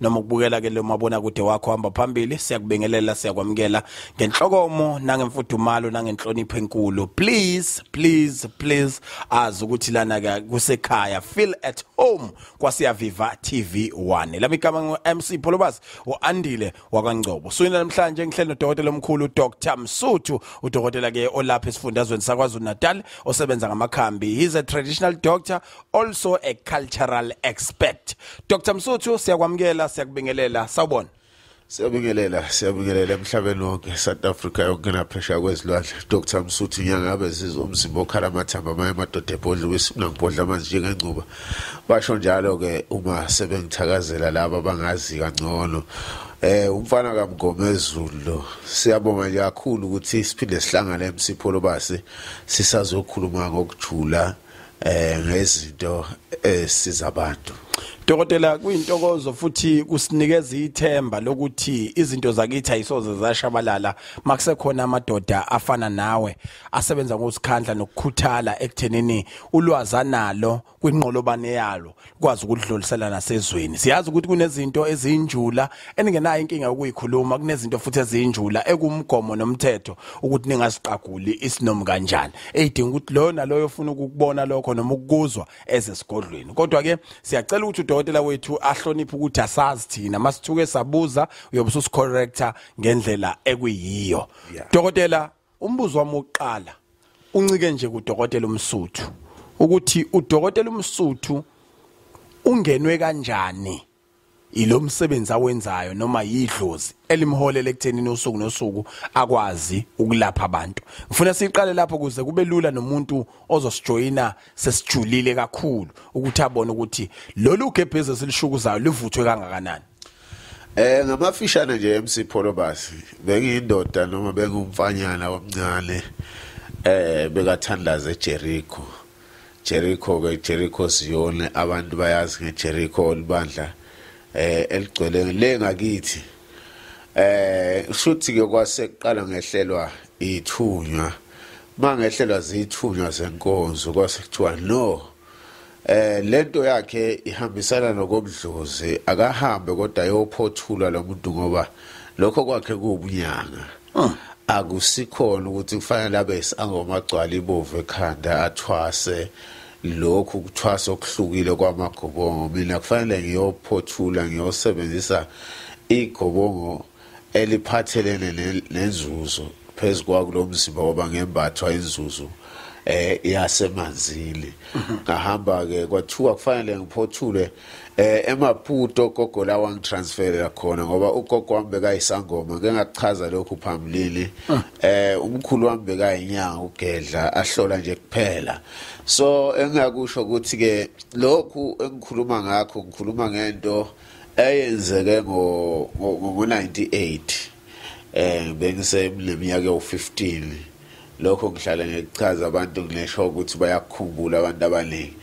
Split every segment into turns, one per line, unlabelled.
noma ukubukela ke lo mabona kude wakho hamba phambili siyakubingelela siyakwamukela ngenhlokomo nangemfudumalo nangenhlonipho enkulu please please please azi ukuthi lana ke kusekhaya feel at home kwasiyaviva TV 1 lami igama ngo MC Pholobas uandile wakangcobo suyina namhlanje ngihleli nodokotela omkhulu Dr Msuthu udokotela ke olapha esifundazweni sakwaZulu Natal osebenza ngamakhambi he's a traditional doctor also a cultural expert Dr Msuthu siyakwamukela siyakubingelela sawubona Siyabingelela
siyabingelela emhlabeni wonke South Africa yonke naphesha kwezilwandle Dr Msuthu nyangabe zizwa umzimba okhala amathamba amaye amadoda ebhodla kwisifuna ngibhodla amanzi njengengcuba basho njalo ke uma sebengithakazela laba abangazi kangcono Eh umfana kaMgomezulu lo siyabonga nje kakhulu ukuthi siphinde sihlangane eMsipho lobase sisazokhuluma ngokujula eh ngezinto esiza abantu Dokotela
kuyintokozo futhi kusinikeza ithemba lokuthi izinto zakithi ayisoze zashabalala makusekhona amadoda afana nawe asebenza ngosikhandla nokukhuthala ekuthenini ulwaza nalo kwinqolobane yalo kwazi ukudlulisela nasezweni siyazi ukuthi kunezinto ezinjula eningenayo inkinga yokuyikhuluma kunezinto futhi ezinjula ekumgomo nomthetho ukuthi ningasiqaguli isinomu kanjani eyidinga ukuthi loyo naloyo ufuna ukukubona lokho noma ukukuzwa eze sigodlweni kodwa ke siyacela ukuthi udokotela wethu ahloniphe ukuthi asazi thina masithuke sabuza uyobe ususicorrector ngendlela ekuyiyo dokotela umbuzo wami wokuqala uncike nje kudokotela umsuthu ukuthi udokotela umsuthu ungenwe kanjani ilo msebenzi awenzayo noma yidlozi elimholele ekuthenini usuku nosuku akwazi ukulapha abantu ngifuna siqale lapho kuze kube lula nomuntu ozosijoyina sesijulile kakhulu ukuthi abone ukuthi lolu gebhezi esilishukuzayo livuthwe kangakanani Eh
ngamafishane nje MC Pholobasi bengiyindoda noma bengumfanyana omncane eh bekathandaza eJericho Jericho ke Jericho Ziyone abantu bayazi ngeJericho olibandla eh eligcwele le ngakithi eh shuthi ke kwase kuqala ngehlelwa ithunywa mangehlelwa zithunywa zenkonzo kwase kuthiwa no Eh lento yakhe ihambisana nokomdlozi akahambe kodwa yophothulwa lo muntu ngoba lokho kwakhe kuwubunyanga. Ah. Akusikhona ukuthi kufanele abe isangoma agcwala ibovu ekhanda athwase lokhu kuthwasa okuhlukile kwamagobongo mina kufanele ngiyophothula ngiyosebenzisa igobongo eliphathelene nenzuzo phezu kwakulo mzimba ngoba ngembathwa inzuzo eh yasemanzini ngahamba ke kwathiwa kufanele ngiphothule eh emaputo gogo la wangitransferela khona ngoba ugogo wami bekayisangoma ke ngakuchaza lokhu phambilini ah. eh umkhulu wami bekayinyanga ugedla ahlola nje kuphela so engakusho ukuthi ke lokhu engikhuluma ngakho ngikhuluma ngento eyenzeke ngo ngo 98 eh bengisemleminyaka yo15 lokho ngihlale ngikuchaza abantu nginesho ukuthi bayakukhumbula abantu abaningi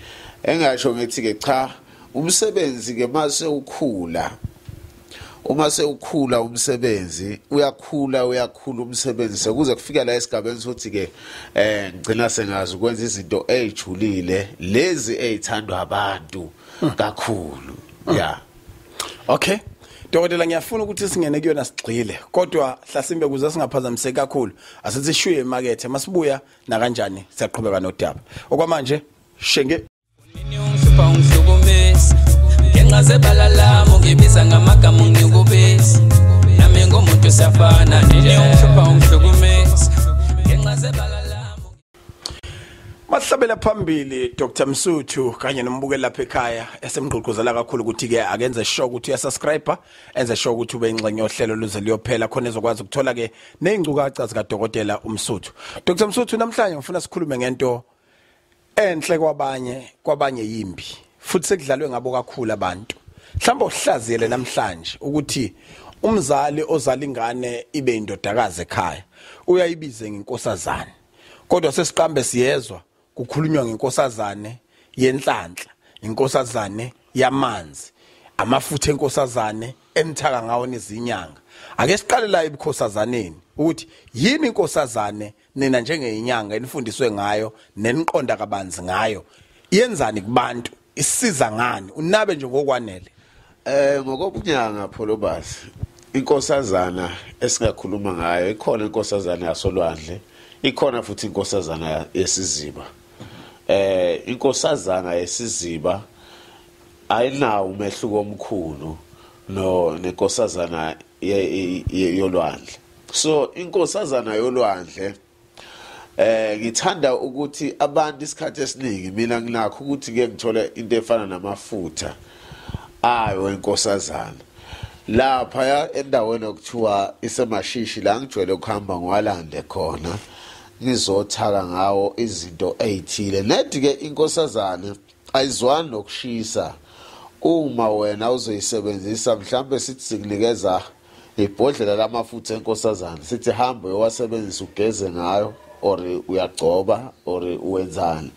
engasho ngithi ke cha umsebenzi ke mase ukhula uma sewukhula umsebenzi uyakhula uyakhula umsebenzi sekuze kufika la esigabeni sokuthi ke eh ngicina sengazi ukwenza izinto ezijulile lezi ezithandwa abantu kakhulu yeah
okay Dokotela ngiyafuna ukuthi singene kuyona sigxile kodwa hlasimbe kuze singaphazamiseki kakhulu asithi shuye emakethe masibuya na kanjani siyaqhubeka nodaba okwamanje shenge
ngenxa zebala lami ngibiza ngamagama ngiyokubisa nami ngomuntu siyafana nje ngiyokuhlupha ungihlukumisa ngenxa zebala Masihlabela
phambili Dr Msuthu kanye nombukeli lapha ekhaya esemgqugquzela kakhulu ukuthi ke akenze sure ukuthi uyasubscribe enze sure ukuthi ube ingxenye yohlelo luze liyophela khona ezokwazi ukuthola ke nezingcukaca zika dokotela uMsuthu Dr Msuthu namhlanje ngifuna sikhulume ngento enhle kwabanye kwabanye yimbi futhi sekudlalwe ngabo kakhulu abantu mhlawumbe uhlaziyele namhlanje ukuthi umzali ozala ingane ibe indodakazi ekhaya uyayibize ngenkosazane kodwa sesiqambe siyezwa kukhulunywa ngenkosazane yenhlanhla inkosazane yamanzi amafutha enkosazane emthaka ngawo nezinyanga ake siqale la ebukhosazaneni ukuthi yini inkosazane nina njengeyinyanga enifundiswe ngayo neniqonda kabanzi ngayo yenzani kubantu isiza ngani unabe nje ngokwanele eh
ngokobunyanga pholobasi inkosazana esingakhuluma ngayo ikhona inkosazana yasolwandle ikhona futhi inkosazana yesiziba eh inkosazana yesiziba ayinawo umehluko omkhulu no nenkosazana yolwandle so inkosazana yolwandle eh ngithanda ukuthi abantu isikhathi esiningi mina nginakho ukuthi ke ngithola into efana namafutha ayo enkosazana lapha ya endaweni okuthiwa isemashishi la ngijwayele ukuhamba ngwalande khona ngizothaka ngawo izinto ezithile nedi ke inkosazana ayizwani nokushisa uma wena uzoyisebenzisa mhlambe sithi sikunikeza ibhodlela lamafutha enkosazana sithi hambe uyowasebenzisa ugeze ngayo or uyagcoba or uwenzani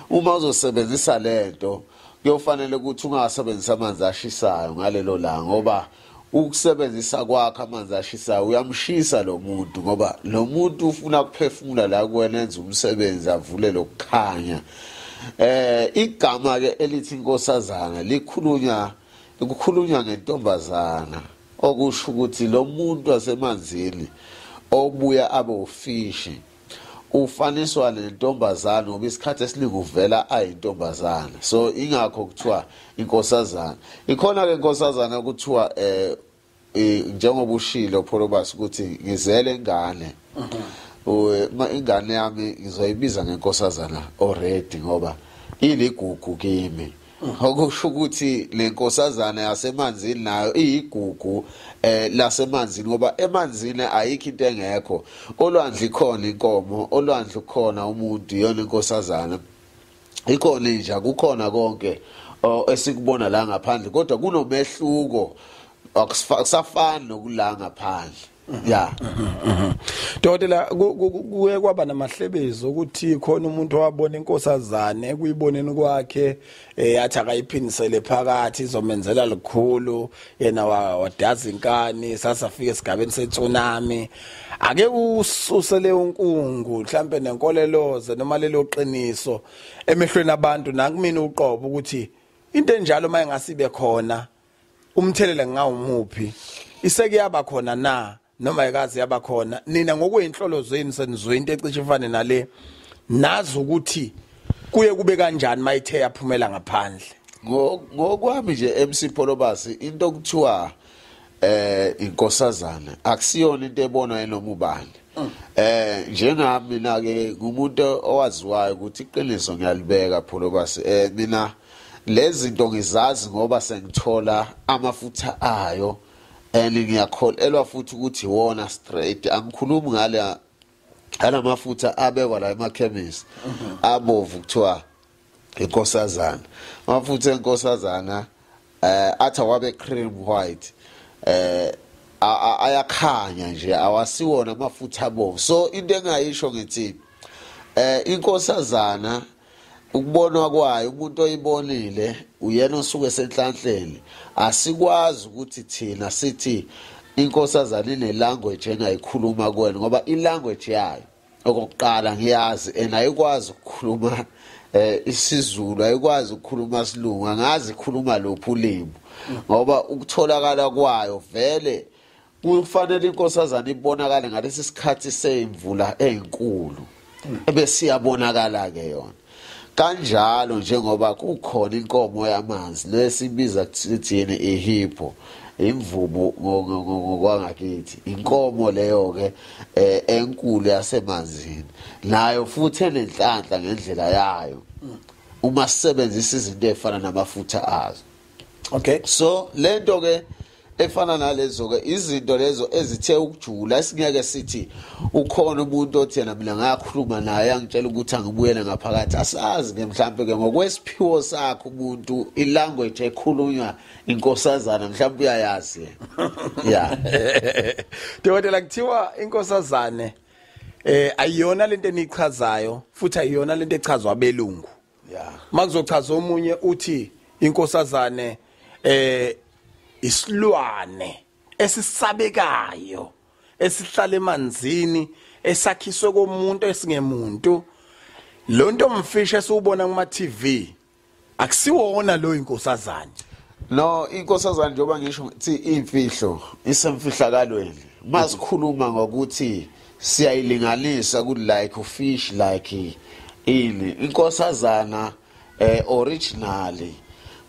uma uzosebenzisa lento kuyofanele ukuthi ungasebenzisa amanzi ashisayo ngalelo langa ngoba ukusebenzisa kwakhe amanzi ashisayo uyamshisa lo muntu ngoba lo muntu ufuna ukuphefumula la kuwena enze umsebenzi avule lokukhanya eh igama ke elithi inkosazana likhulunywa kukhulunywa ngentombazana okusho ukuthi lo muntu wasemanzini obuya abe ufishi ufaniswa nentombazane ngoba isikhathi esiningi uvela ayintombazane so ingakho kuthiwa inkosazana ikhona-ke inkosazane kuthiwa um njengoba ushilo pholobasi ukuthi ngizele ingane mhm. ingane yami ngizoyibiza ngenkosazana already ngoba iligugu kimi okusho ukuthi le nkosazana yasemanzini nayo iyigugu eh lasemanzini ngoba emanzini ayikho into engekho olwandle ikhona inkomo olwandle ukhona umuntu iyona inkosazana ikhona inja kukhona konke esikubona la ngaphandle kodwa kunomehluko akusafani nokula ngaphandle ya
dokotela kuye kwaba namahlebezi ukuthi khona umuntu owabona inkosazane kuyiboneni kwakhe eh athi akayiphindisele phakathi izomenzela likhulu yena wadaza inkani sasafika esigabeni setsunami ake ususele unkungu mhlambe nenkoleloze noma lelo qiniso emehlweni abantu nakumina uqobo ukuthi into enjalo mayengasibe khona umthelela ngawumuphi iseke yaba khona na noma ikaze yaba khona nina ngokweinhlolo zenu senizwe into ecishe ifane nale nazi ukuthi kuye kube kanjani mayithe yaphumela ngaphandle ngokwami
nje MC Pholobasi into okuthiwa eh inkosazana akusiyona into ebonwa yinoma ubani mm. eh njengami mina ke ngumuntu owaziwayo ukuthi iqiniso ngiyalibeka Pholobasi eh mina Lezinto ngizazi ngoba sengithola amafutha ayo and ngiyakholelwa futhi ukuthi wona straight angikhulumi ngale alamafutha abekwa la emakhemisi mhm. abovu kuthiwa inkosazana amafutha enkosazana eh athi awabe cream white eh ayakhanya nje awasiwona amafutha abovu so into engayisho ngithi eh inkosazana ukubonwa kwayo umuntu oyibonile uyena osuke senhlanhleni asikwazi ukuthi thina sithi inkosazana inelanguage engayikhuluma kuwena ngoba ilanguage yayo okokuqala ngiyazi and ayikwazi ukukhuluma eh isiZulu ayikwazi ukukhuluma isilungu angazi ikhuluma lophi ulimi ngoba ukutholakala kwayo vele kufanele inkosazana ibonakale ngalesi sikhathi seyimvula enkulu ebesiyabonakala ke yona kanjalo njengoba kukhona inkomo yamanzi lesibiza kuthini ihipho imvubu ngokwangakithi inkomo leyo ke eh, enkulu yasemanzini nayo futhi enenhlanhla ngendlela yayo uma sisebenzisa izinto ezifana namafutha azo okay so
lento
ke efana nalezo ke izinto lezo ezithe ukujula singeke sithi ukhona umuntu othi yena mina ngakhuluma naye angitshela ukuthi angibuyele ngaphakathi asazi ke mhlambe ke ngokwesiphiwo sakhe umuntu ilanguage ekhulunywa inkosazana mhlambe uyayazi yeah
dokotela kuthiwa inkosazane eh ayiyona lento enichazayo futhi ayiyona lento echazwa belungu yeah makuzochaza omunye uthi inkosazane eh isilwane esisabekayo esihlala emanzini esakhiswe komuntu esingemuntu lo nto mfisha esiwubona kuma TV akusiwona lo inkosazane no
inkosazane njengoba ngisho thi imfihlo isemfihlakalweni masikhuluma ngokuthi siyayilinganisa ku like fish like ini inkosazana eh originally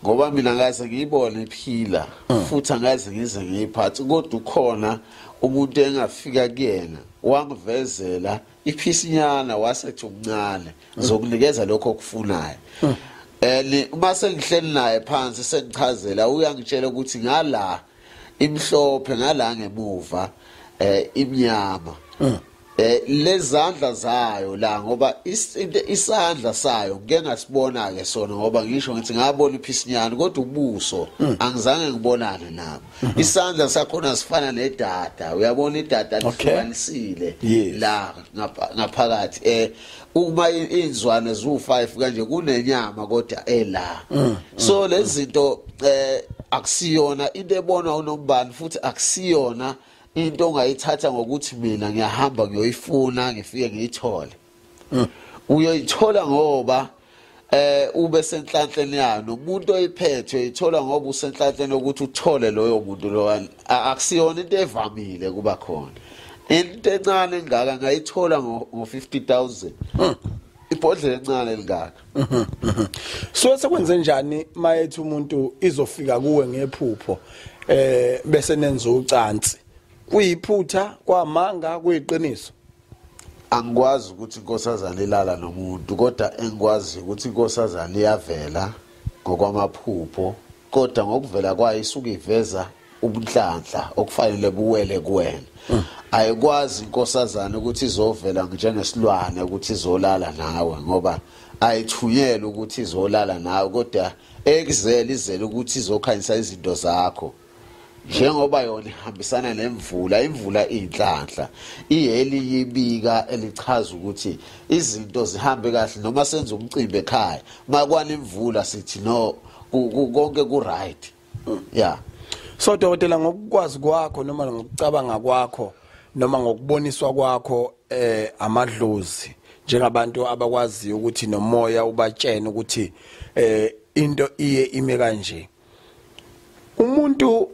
ngoba mina ngaze ngiyibone iphila mm. futhi angaze ngize ngiyiphathi kodwa ukhona umuntu engafika kuyena wangivezela iphisinyana wasethi umncane mm. zokunikeza lokho okufunayo mm. eh uma sengihleli naye phansi sengichazela uyangitshela ukuthi ngala imhlophe ngala ngemuva eh imnyama mm. eh lezandla zayo la ngoba isandla sayo ngeke ngasibona ke sona ngoba ngisho ngithi ngabona iphisinyana kodwa ubuso mm. angizange ngibonane nabo mm-hmm. isandla sakhona sifana nedata uyabona idata lihlukanisile la ngaphakathi eh uma inzwane zu5 kanje kunenyama kodwa ela mm, mm, so mm. lezinto eh akusiyona into ebonwa unombani futhi akusiyona into ongayithatha ngokuthi mina ngiyahamba ngiyoyifuna ngifike ngiyithole uyoyithola ngoba eh ube senhlanhleni yalo umuntu oyiphethwe ithola ngoba usenhlanhleni ukuthi uthole loyo muntu lo akusiyona into evamile kuba khona into encane engaka ngayithola ngo 50000 ibhodlela encane elingaka
so sekwenze njani mayethi umuntu izofika kuwe ngephupho eh bese nenza ucansi kuyiphutha kwamanga kuyiqiniso
angikwazi ukuthi inkosazana ilala nomuntu kodwa engikwazi ukuthi inkosazana iyavela ngokwamaphupho kodwa ngokuvela kwayo isuke iveza ubunhlanhla okufanele buwele kuwena mm. ayikwazi inkosazana ukuthi izovela njengesilwane ukuthi izolala nawe ngoba ayithunyelwe ukuthi izolala nawe kodwa ekuzele izele ukuthi izokhanyisa izinto zakho njengoba yona ihambisana nemvula imvula inhlanhla iheli yibika elichaza ukuthi izinto zihambe kahle noma senza umcimbi ekhaya makwana imvula sithi no konke ku right yeah so dokotela
ngokukwazi kwakho noma ngokucabanga kwakho noma ngokuboniswa kwakho eh amadlozi njengabantu abakwaziyo ukuthi nomoya ubatshene ukuthi eh into iye ime kanje umuntu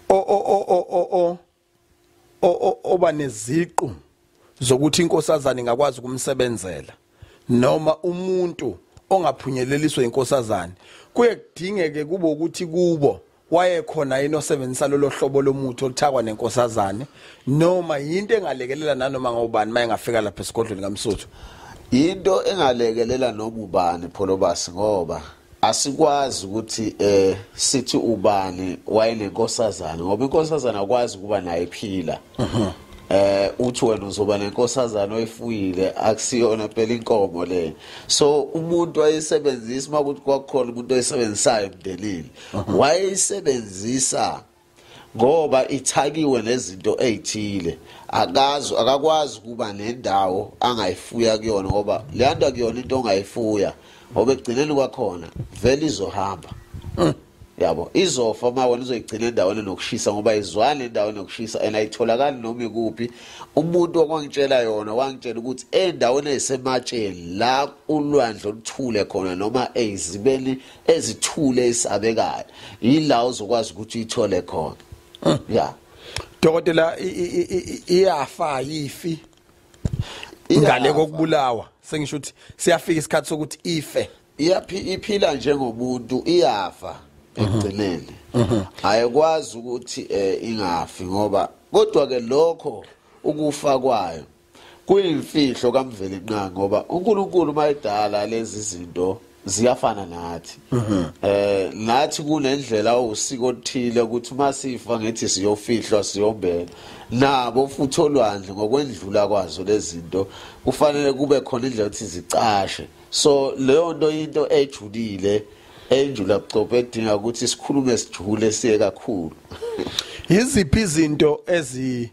o o o o o oba neziqu zokuthi inkosazana ingakwazi ukumsebenzela noma umuntu ongaphunyeleliswa inkosazana kuye kudingeke kube ukuthi kubo wayekhona yini osebenzisa lolo hlobo lomuthi oluthakwa nenkosazane noma yinto engalekelela nanoma ngobani mayengafika lapha esigodlweni kaMsuthu into
engalekelela noma ubani pholobasi ngoba asikwazi ukuthi eh sithi ubani wayenenkosazana ngoba inkosazana akwazi kuba naye phila mhm. eh uthi wena uzoba nenkosazana oyifuyile akusiyona phela inkomo le so umuntu wayesebenzisa makuthi kwakukhona umuntu oyisebenzisayo emndenini mhm. wayeyisebenzisa ngoba ithakiwe nezinto ezithile akazi akakwazi kuba nendawo angayifuya kuyona ngoba leyanda kuyona into ongayifuya ngoba ekugcineni kwakhona vele izohamba hmm. yabo izofa uma wena uzoyigcina endaweni nokushisa ngoba izwani endaweni nokushisa and ayitholakali noma ikuphi umuntu okwangitshela yona wangitshela ukuthi endaweni ezisematsheni la ulwandle oluthule khona noma ezibeni ezithule esabekayo yila uzokwazi ukuthi uyithole khona hmm. ya dokotela
iyafa yifi ingale kokubulawa sengisho ukuthi siyafika isikhathi sokuthi ife iyaphi iphila
njengobuntu iyafa ekugcineni mhm. ayikwazi ukuthi eh, ingafi ngoba kodwa ke lokho ukufa kwayo kuyimfihlo kamveli nqa ngoba uNkulunkulu mayedala lezi zinto ziyafana nathi mhm. eh nathi kunendlela usiko othile ukuthi uma sifa ngithi siyofihlwa siyombela nabo futhi olwandle ngokwendlula kwazo lezinto kufanele kube khona indlela ukuthi zicashe so leyo nto into ejulile enjula bucophe edinga ukuthi sikhulume sijule siye kakhulu yiziphi
izinto ezi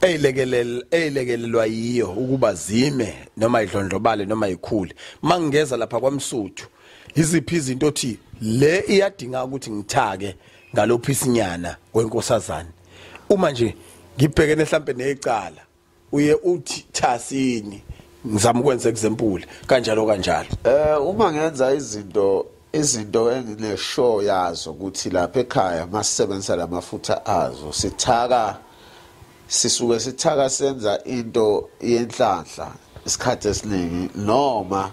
eyilekelel eyilekelelwa yiyo ukuba zime noma idlondlobale noma ikhule mangingeza lapha kwamsuthu iziphi izinto othi le iyadinga ukuthi ngithake ngalophi isinyana kwenkosazane uma nje ngibhekene mhlambe necala uye uthi thasini ngizama ukwenza example kanjalo kanjalo eh uma
ngenza izinto izinto engineshow yazo ukuthi lapha ekhaya masisebenzisa lamafutha azo sithaka sisuke sithaka senza into yenhlanhla isikhathi esiningi noma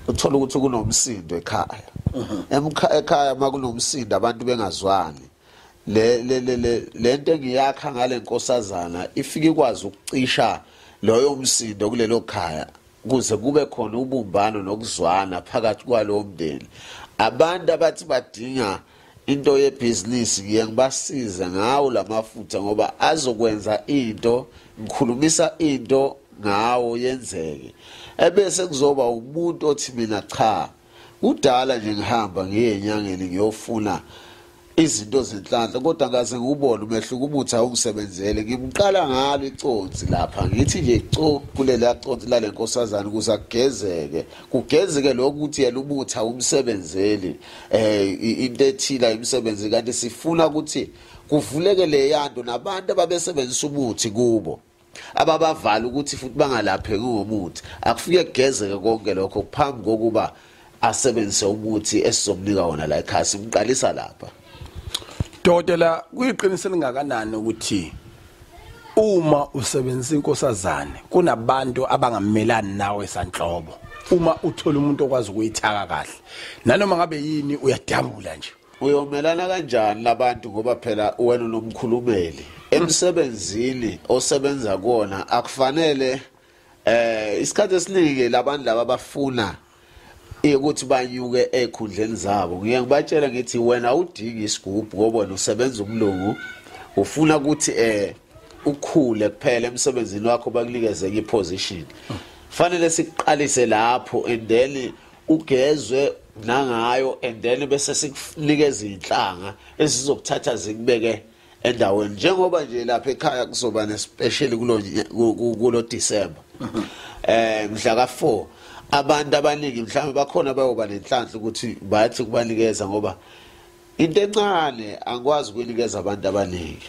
uthola ukuthi kunomsindo ekhaya mhm. ekhaya makunomsindo abantu bengazwani le le le lento engiyakha ngale nkosazana ifike ikwazi ukucisha loyo msindo kulelo khaya ukuze kube khona ubumbano nokuzwana phakathi kwalowo mndeni abantu abathi badinga into yebhizinisi ngiye ngibasize ngawo la mafutha ngoba azokwenza into ngikhulumisa into ngawo yenzeke ebese kuzoba umuntu othi mina cha Kudala nje ngihamba ngiye enyangeni ngiyofuna izinto zenhlanhla kodwa ngaze ngubone umehluko ubuthi awungisebenzele ngimqala ngalo iconsi lapha ngithi nje co kulela consi lale nkosazana ukuze agezeke kugezeke lokho ukuthi yena ubuthi awumsebenzeli eh into ethila imisebenzi kanti sifuna ukuthi kuvuleke leyanto nabantu ababesebenzisa ubuthi kubo ababavala ukuthi futhi bangalapheki ngomuthi akufike kugezeke konke lokho phambi kokuba asebenzise umuthi esizomnika wona la ekhaya simqalisa lapha
dokotela kuyiqiniso elingakanani ukuthi uma usebenzisa inkosazane kunabantu abangamelani nawe sanhlobo uma uthola umuntu okwazi ukuyithaka kahle nanoma ngabe yini uyadabula nje uyomelana kanjani
labantu ngoba phela wena unomkhulumeli emsebenzini osebenza kuona akufanele eh isikhathi esiningi labantu laba bafuna ukuthi banyuke ekhundleni zabo ngiye ngibatshela ngithi wena udingi isigubhu ngoba wena usebenza umlungu ufuna ukuthi eh ukhule kuphela emsebenzini wakho bakunikeze enye position fanele siqalise lapho and then kugezwe nangayo and then bese sikunika izinhlanga ezizokuthatha zikubeke endaweni njengoba nje lapha ekhaya kuzoba nespecially kulo kulo December mhm. eh mhla ka 4 abantu abaningi mhlawumbe bakhona bayoba nenhlanhla ukuthi bathi kubanikeza ngoba into encane angikwazi ukunikeza abantu abaningi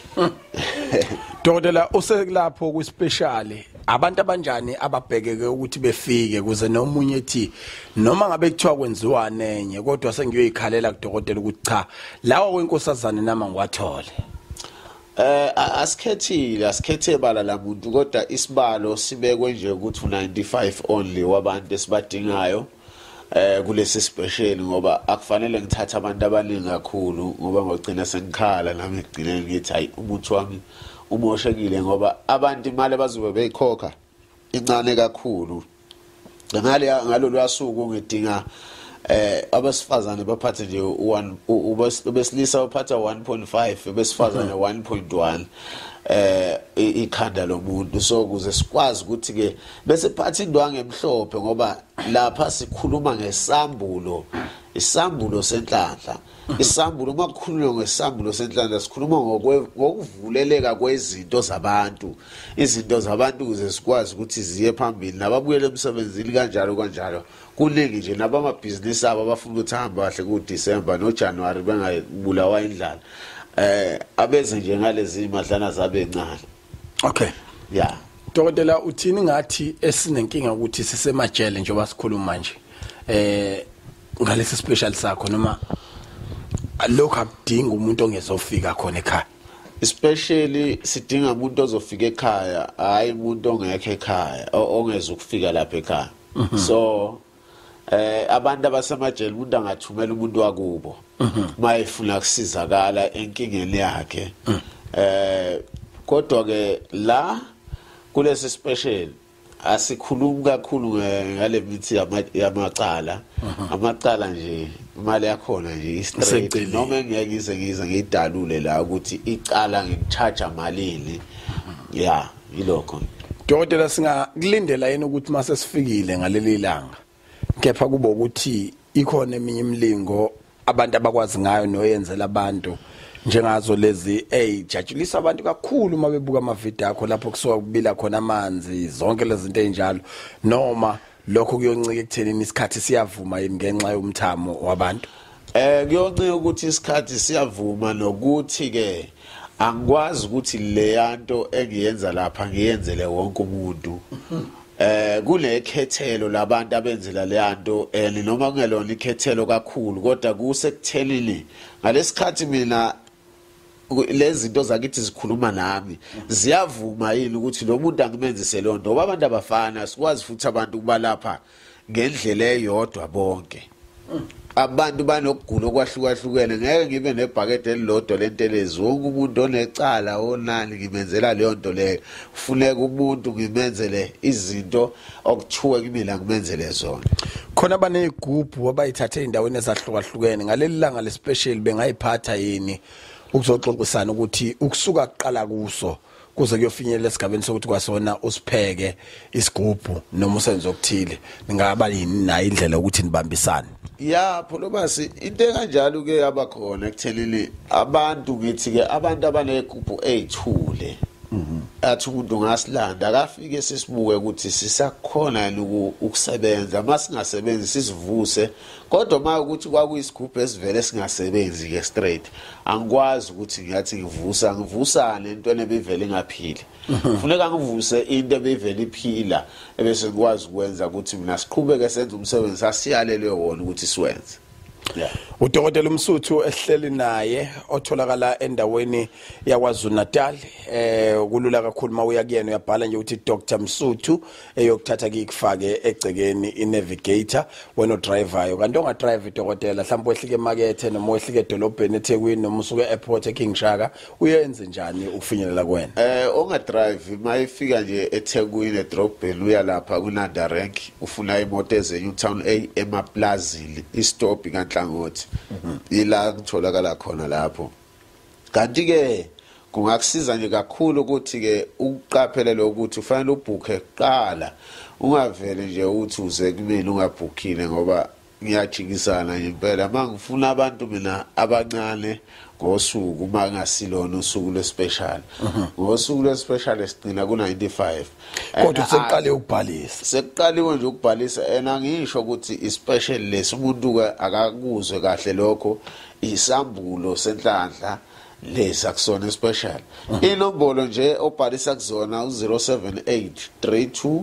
dokotela usekulapho kwispecial abantu abanjani ababhekeke ukuthi befike kuze nomunye ethi noma ngabe kuthiwa kwenziwa nenye kodwa sengiyoyikhalela kudokotela ukuthi cha lawa kwenkosazane nama ngiwathole Eh asikhethile
asikhethe bala lamuntu kodwa isibalo sibekwe nje ukuthi 95 only wabantu esibadingayo eh kulesi special ngoba akufanele ngithathe abantu abaningi kakhulu ngoba ngogcina sengikhala nami ngigcine ngithi hayi umuntu wami umoshekile ngoba abantu imali bazobe beyikhokha incane kakhulu ngale ngalolu asuku ngidinga eh abesifazane baphathe nje ubesilisa uphatha 1.5 besifazane 1.1 eh ikhanda lomuntu so kuze sikwazi ukuthi ke bese phathi indwangu emhlophe ngoba lapha sikhuluma ngesambulo isambulo senhlanhla isambulo uma kukhulunywa ngesambulo senhlanhla sikhuluma ngokuvuleleka kwezinto zabantu izinto zabantu ukuze sikwazi ukuthi ziye phambili nababuyele emsebenzini kanjalo kanjalo kuningi nje nabamabhizinisi abo abafuna ukuthi ahambe kahle kudisemba nojanuwari bengabulawa indlala um eh, abeze nje ngalezi madlana zabencane okay
yeah
dokotela uthini
ngathi esinenkinga ukuthi sisemajele njengoba sikhuluma manje eh ngalesi special sakho noma lokho akudinga umuntu ongezofika khona ekhaya especially
sidinga umuntu ozofika ekhaya hayi umuntu ongekho ekhaya ongeza ukufika lapha ekhaya mhm. so eh abantu abasemajele umuntu angathumela umuntu wakubo mhm. mayefuna kusizakala enkingeni yakhe mhm. eh kodwa ke la kulesi special asikhulumi kakhulu ngale mithi yamacala mhm. amacala nje imali yakhona nje istraight noma ngeke ngize ngize ngidalule la ukuthi icala ngicharge malini yeah yilokho dokotela
singakulindela yini ukuthi uma sesifikile ngaleli langa kepha kube ukuthi ikhona eminye imilingo abantu abakwazi ngayo noyenzela abantu njengazo lezi ey jatshulisa abantu kakhulu uma bebuka amavideo akho lapho kusuka kubila khona amanzi zonke lezi zinto ezinjalo noma lokho kuyoncika ekuthenini isikhathi siyavuma yini ngenxa yomthamo wabantu eh
kuyoncika ukuthi isikhathi siyavuma nokuthi ke angikwazi ukuthi leyanto engiyenza lapha ngiyenzele wonke umuntu eh kunekhethelo labantu abenzela leyanto and noma kungelona ikhethelo kakhulu kodwa kusekuthelini ngalesikhathi mina lezi zinto zakithi zikhuluma nami ziyavuma yini ukuthi lo muntu angimenzise loo nto ngoba abantu abafana sikwazi futhi abantu ukubalapha ngendlela eyodwa bonke abantu banokugula okwahlukahlukene ngeke ngibe nebhakede elilodwa lentelezi wonke umuntu onecala onani ngimenzela leyo nto leyo kufuneka umuntu ngimenzele izinto okuthiwe kumina kumenzele zona khona
banezigubhu abayithathe endaweni ezahlukahlukene ngaleli langa lespecial bengayiphatha yini ukuzoxoxisana ukuthi ukusuka kuqala kuso kuze kuyofinyelela esigabeni sokuthi kwasona usipheke isigubhu noma usenze okuthile ningaba yini nayo indlela ukuthi nibambisane ya phulomasi
into enganjalo ke yaba khona ekuthenini abantu ngithi ke abantu abanegubhu eyithule mhm. athi umuntu ngasilanda akafike sisibuke ukuthi sisakhona yini ukusebenza uma singasebenzi sizivuse kodwa uma ukuthi kwakuyisigubhu esivele singasebenzi-ke straight angikwazi ukuthi ngiyathi ngivusa ngivusane entweni ebivele ingaphili Mhm. funeka ngivuse into ebeyivele iphila ebese ngikwazi ukwenza ukuthi mina siqhubeke senze umsebenzi sasiyalelwe wona ukuthi siwenze udokotela
umsuthu ehleli naye otholakala endaweni yakwazulu-natal eh kulula kakhulu uma uya kuyena uyabhala nje ukuthi dr msuthu eyokuthatha kikufake egcekeni i-navigator wena odrivayo kanti ongadrive idokotela mhlawumbe wehlike emakethe noma wehlike edolobheni ethekwini noma usuke e-airport eking shaka uyenze njani ukufinyelela kwena eh onga drive
mayifika nje eThekwini edrobheni uya lapha kunanda rank ufuna imoto ezenyu town A emaplazini istop kanhlangothi mhm. ila kutholakala khona lapho kanti ke kungakusiza nje kakhulu ukuthi ke ukuqaphelele ukuthi ufanele ubhukhe kuqala ungavele nje uthi uze kumina ungabhukhile ngoba ngiyajikisana impela uma ngifuna abantu mina abancane ngosuku uma ngasilona usuku lwespecial mhm. ngosuku lwespecial sigcina ku-95 kodwa
sekuqale ukubhalisa sekuqaliwe nje
ukubhalisa and angisho ukuthi ispecial lesi umuntu-ke akakuzwe kahle lokho isambulo senhlanhla lesi akusona especial mhm. inombolo nje obhalisa kuzona u-078 32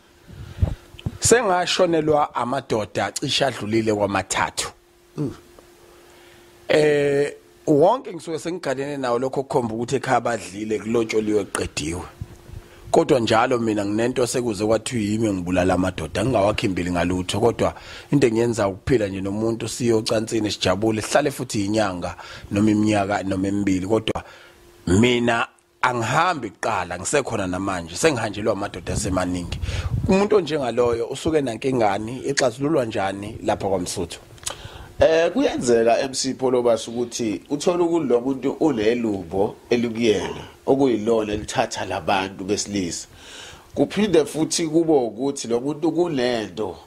sengashonelwa amadoda cisha adlulile kwamathathu mm. eh wonke ngisuke sengigalene nawo lokho kukhomba ukuthi ekhaya badlile kulotsholiwe kuqediwe kodwa njalo mina nginento sekuze kwathiwa yimi ngibulala amadoda ngingawakhimbili ngalutho kodwa into engiyenza ukuphila nje nomuntu siyocansini sijabule sihlale futhi inyanga noma iminyaka noma emibili kodwa mina angihambi kuqala ngisekhona namanje sengihanjelwa amadoda asemaningi umuntu onjengaloyo usuke nankingani ixazululwa njani lapha kwaMsuthu Eh
kuyenzeka MC Polobas ukuthi uthola ukulo muntu unelubo elikuyena okuyilona elithatha labantu besilisa kuphinde futhi kube ukuthi lo muntu kunento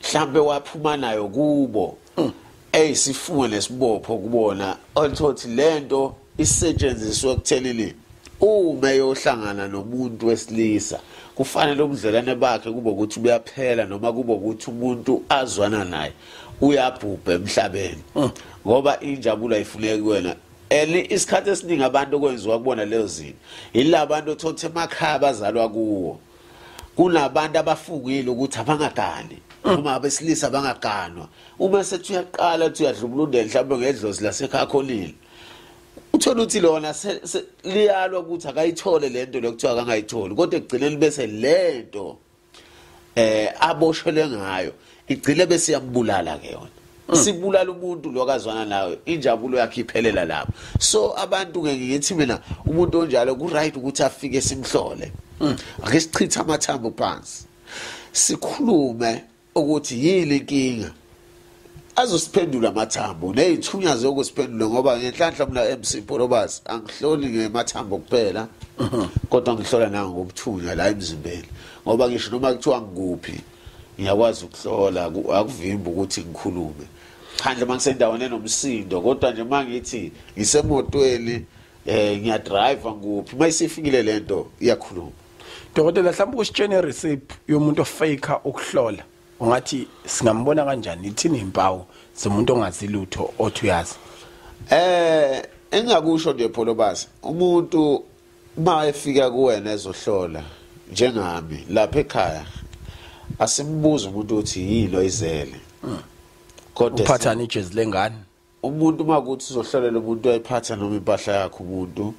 mhlambe waphuma nayo kubo mm. ey sifunge nesibopho kubona althothi lento isetshenziswe ekuthenini uma yohlangana nomuntu wesilisa kufanele ubudlelane bakhe kube ukuthi buyaphela noma kube ukuthi umuntu azwana naye uyabhubha emhlabeni mm. ngoba injabulo ayifuneki kuwena eli isikhathi esiningi abantu okwenziwa kubona leyo zinto yila bantu othothe emakhaya bazalwa kuwo kunabantu abafungile ukuthi abangagani noma abesilisa bangaganwa uma sethi uyaqala uthi uyadlubulunda mhlawumbe ngedlozi lasekhakholile uthola ukuthi lona liyalwa ukuthi akayithole le nto lokuthiwa akangayitholi kodwa ekugcineni bese le nto um aboshelwe ngayo igcile bese yambulala ke yona mm. sibulala umuntu lo kazwana nawe injabulo yakhe iphelela lapho so abantu ke ngithi mina umuntu onjalo ku right ukuthi afike simhlole mm. ake sichithe amathambo phansi sikhulume ukuthi yini inkinga azosiphendula amathambo nezithunya zokusiphendula ngoba ngenhlanhla mina MC Porobas angihloli ngemathambo kuphela mhm. kodwa ngihlola nango ngobuthunya la emzimbeni ngoba ngisho noma kuthiwa ngikuphi ngiyakwazi ukuhlola akuvimbi ukuthi ngikhulume phandle uma ngisendaweni enomsindo kodwa nje uma ngithi ngisemotweni um ngiyadriva ngikuphi uma isifikile le nto iyakhuluma dokotela mhlawumbe
ukusitshena ireceipt yomuntu ofake ukuhlola ungathi singambona kanjani ithini impawu zomuntu ongazi lutho othi uyazi eh
engakusho nje pholobasi umuntu uma efika kuwena ezohlola njengami lapha ekhaya asimbuza umuntu uthi yini oyizele hmm. kodwa uphathana ijezi
lengane umuntu uma
kuthi uzohlolela umuntu ayiphatha noma impahla yakhe umuntu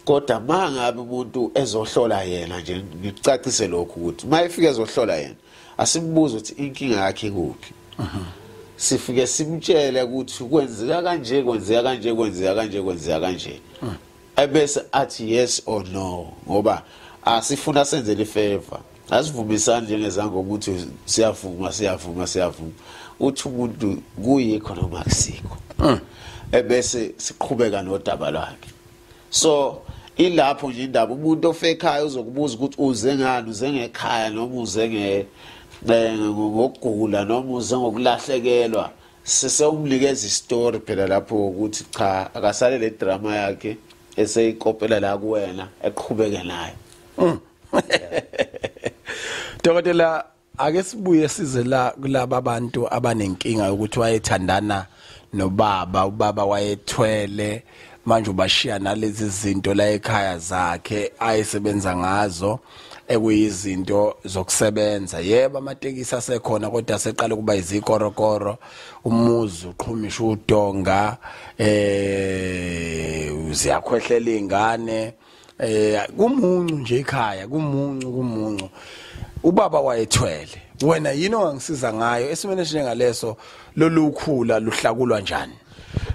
kodwa uma ngabe umuntu ezohlola yena nje ngicacise lokhu ukuthi uma efika ezohlola yena asimbuze ukuthi inkinga yakhe kuphi mhm. sifike simtshele ukuthi kwenzeka kanje kwenzeka kanje kwenzeka kanje kwenzeka kanje hmm. ebese athi yes or no ngoba asifuna senzele ifavor asivumisani njengezango ukuthi siyavuma siyavuma siyavuma uthi umuntu kuyikho noma kusikho hmm. ebese siqhubeka nodaba lwakhe so ilapho nje indaba umuntu ofekhaya uzokubuza ukuthi uze ngani uze ngekhaya noma uze nge ngokugula noma uze ngokulahlekelwa sesewukunikeza istory phela lapho ukuthi cha akasale le drama yakhe eseyikopela la kuwena eqhubeke nayo mm.
Dokotela ake sibuye size la kulaba bantu abanenkinga ukuthi wayethandana nobaba ubaba wayethwele manje ubashiya nalezi zinto la ekhaya zakhe ayisebenza ngazo ekuyizinto zokusebenza yebo amatekisi asekhona kodwa seqala ukuba izikorokoro umuzi uqhumisha udonga eh ziyakhwehlela ingane eh kumuncu nje ekhaya kumuncu kumuncu ubaba wayethwele wena yini ongangisiza ngayo esimene njengaleso lolukhula luhlakulwa njani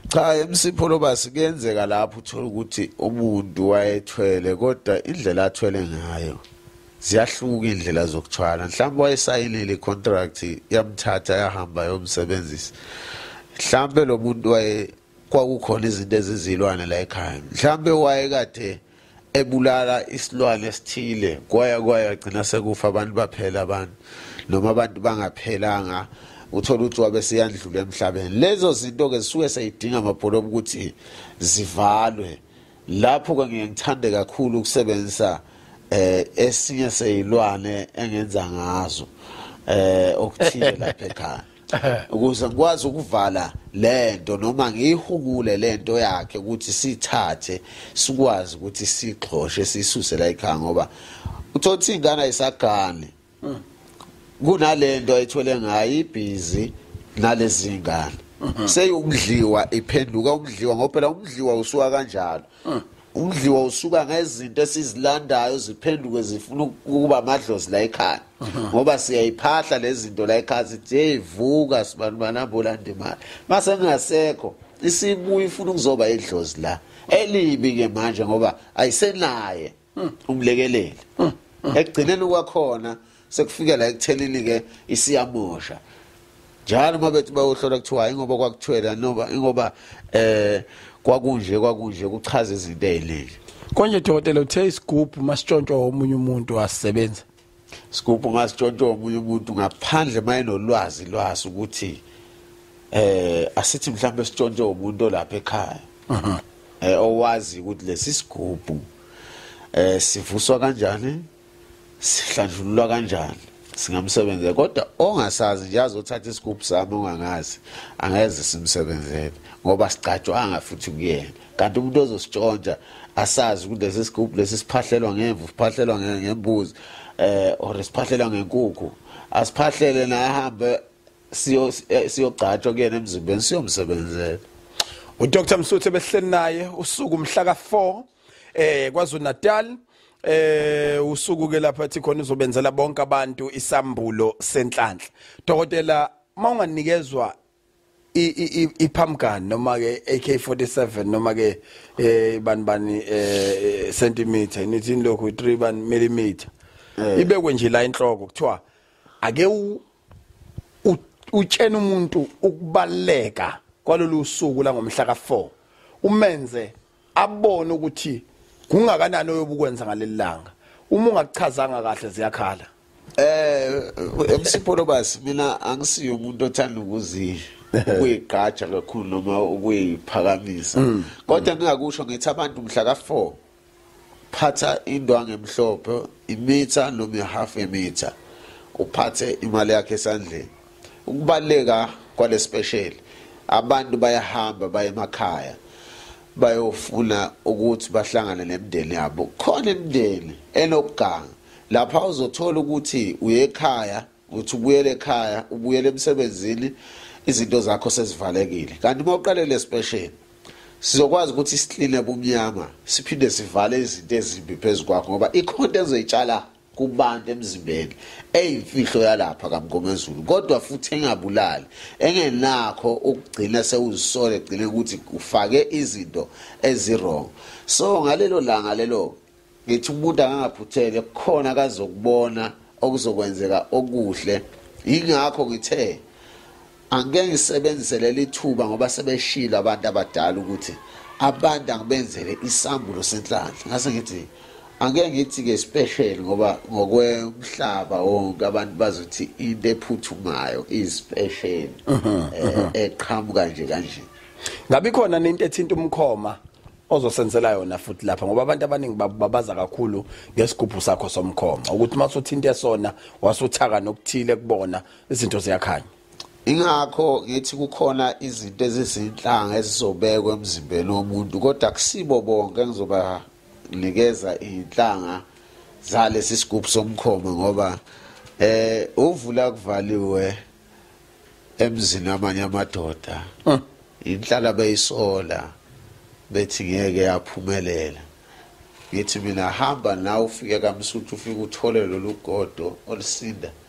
cha
emsipho lobasi kuyenzeka lapho uthola ukuthi umuntu wayethwele kodwa indlela athwele ngayo ziyahluka indlela zokuthwala mhlawumbe wayesayinile icontract yamthatha yahamba yomsebenzisa mhlawumbe lo muntu waye kwakukhona izinto ezizilwane la ekhaya mhlambe wayekade ebulala isilwane esithile kwaya kwaya gcina sekufa abantu baphela abantu noma abantu bangaphelanga uthola ukuthi wabe seyandlula emhlabeni lezo zinto ke zisuke seyidinga amabholo ukuthi zivalwe lapho ke ngiye ngithande kakhulu ukusebenzisa eh esinye seyilwane engenza ngazo eh okuthile lapha ekhaya ukuze ngikwazi ukuvala lento noma ngiyihukule lento yakhe ukuthi sithathe sikwazi ukuthi sixhoshe sisuse la ekhaya ngoba uthothi ingane ayisagani hmm. kunalento ayithole ngayo ibhizi nalezi ngane hmm. seyokudliwa iphenduka umdliwa ngoba phela umdliwa usuka kanjalo hmm. umdliwa usuka ngezinto esizilandayo ziphenduke zifuna ukuba amadlozi la ekhaya ngoba siyayiphahla lezinto la ekhaya sithi hey vuka sibantu banabhola ndimali mase ngingasekho isibuya ifuna ukuzoba idlozi la elibi ke manje ngoba ayisenaye umlekeleli ekugcineni kwakhona sekufike la ekuthenini ke isiyamosha njalo uma bethi bayohlola kuthiwa ingoba kwakuthwela noma ingoba eh kwakunje kwakunje kuchaza izinto eziningi konje dokotela
uthe isigubhu masitshontshwa omunye umuntu asebenza isigubhu
ngasitshontshwa omunye umuntu ngaphandle mayenolwazi lwaso ukuthi eh asithi mhlawumbe sitshontshwe umuntu olapha ekhaya mhm. eh owazi ukuthi lesi sigubhu eh sivuswa kanjani sihlanjululwa kanjani singamsebenzela kodwa ongasazi nje azothatha isigubhu sami ongangazi angeze simsebenzele ngoba sigcatshwanga futhi kuyena kanti umuntu ozositshontsha asazi ukuthi lesi sigubhu lesi siphahlelwa ngemvu siphahlelwa ngembuzi eh or siphahlelwa ngenkukhu asiphahlele naye ahambe siyo eh, siyogcatshwa kuyena emzimbeni siyomsebenzela uDr
Msuthe behleli naye usuku mhla ka4 eh KwaZulu Natal eh usuku ke lapha ethi khona uzobenzela bonke abantu isambulo senhlanhla dokotela mawunganikezwa iphamgani noma ke AK47 noma ke eh bani bani eh centimeter nithini lokho 3 ban millimeter eh. ibekwe nje la inhloko kuthiwa ake utshena umuntu ukubaleka kwalolu suku langomhla ka4 umenze abone ukuthi kungakanani oyobukwenza ngaleli langa uma ungakuchazanga kahle ziyakhala eh emsipho
lobasi mina angisiyo umuntu othanda ukuzi ukuyigqaja kakhulu noma ukuyiphakamisa mm. kodwa ngingakusho ngithi abantu mhla ka4 phatha indwangu emhlophe imitha noma ihalf yemitha uphathe imali yakhe esandleni ukubaleka kwalespecial abantu bayahamba baye emakhaya bayofuna ukuthi bahlangane nemndeni yabo khona imndeni enokuganga lapha uzothola ukuthi uyekhaya uthi ubuyele ekhaya ubuyele emsebenzini izinto zakho sezivalekile kanti uma uqale le special sizokwazi ukuthi sikline bumnyama siphinde sivale izinto ezimbi phezu kwakho ngoba ikhonto ezoyitshala kubantu emzimbeni eyimfihlo yalapha kaMngomezulu kodwa futhi engabulali engenakho ukugcina sewuzisole gcine ukuthi ufake izinto ezirong so ngalelo langa lelo ngithi umuntu akangaphuthele kukhona kazokubona okuzokwenzeka okuhle yingakho ngithe Angike ngisebenzise leli thuba ngoba sebeshilo abantu abadala ukuthi abantu angibenzele isambulo senhlanhla ngase ngithi angeke ngithi-ke special ngoba ngokwemhlaba wonke abantu bazothi into ephuthumayo i-special eh, eqhamuka nje kanje ngabe khona
nento ethinta umkhoma ozosenzela yona futhi lapha ngoba abantu abaningi babaza kakhulu ngesigubhu sakho somkhoma ukuthi uma usuthinta esona wasuthaka nokuthile kubona izinto ziyakhanya ingakho
ngithi kukhona izinto ezizinhlanga ezizobekwa emzimbeni womuntu kodwa kusibo bonke ngizobanikeza iy'nhlanga zalesi sigubhu somkhomo ngoba eh uvula kuvaliwe emzini amanye amadoda ah. inhlala beyisola bethi ngeke yaphumelela ngithi mina hamba nawe ufike kamsuthu ufike uthole lolu godo olusinda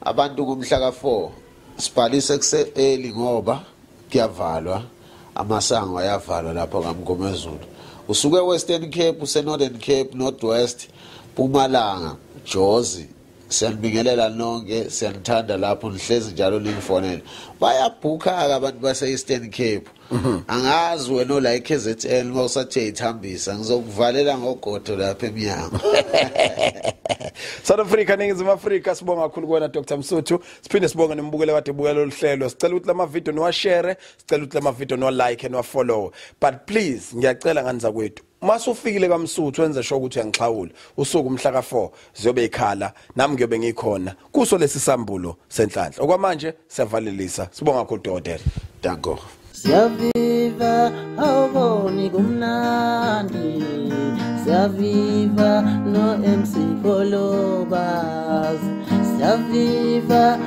Abantu
kumhla ka-4 sibhalise kuse-early ngoba kuyavalwa amasango ayavalwa lapho kamgomezulu usuke western cape usenorthern cape northwest pumalanga jozi siyanibingelela nonke siyanithanda lapho nihlezi njalo ningifonele bayabhukha-ke abantu base-eastern cape mhm. angazi wena ola eKZN uma usathe ithambisa ngizokuvalela ngogodo lapha emnyango
South Africa ningizimu Africa sibonga kakhulu kuwena Dr Msuthu siphinde sibonge nembukele kade bukela oluhlelo sicela ukuthi lama video niwa share sicela ukuthi lama video niwa like and wa follow but please ngiyacela ngani zakwethu mase ufikile kamsuthu wenze sho ukuthi uyangixhawula usuku umhla ka4 ziyobe ikhala nami ngiyobe ngikhona kuso lesi sambulo senhlanhla okwamanje siyavalelisa sibonga kakhulu dokotela danko
siyaviva
awuboni kumnandi siyaviva no MC Kolobas siyaviva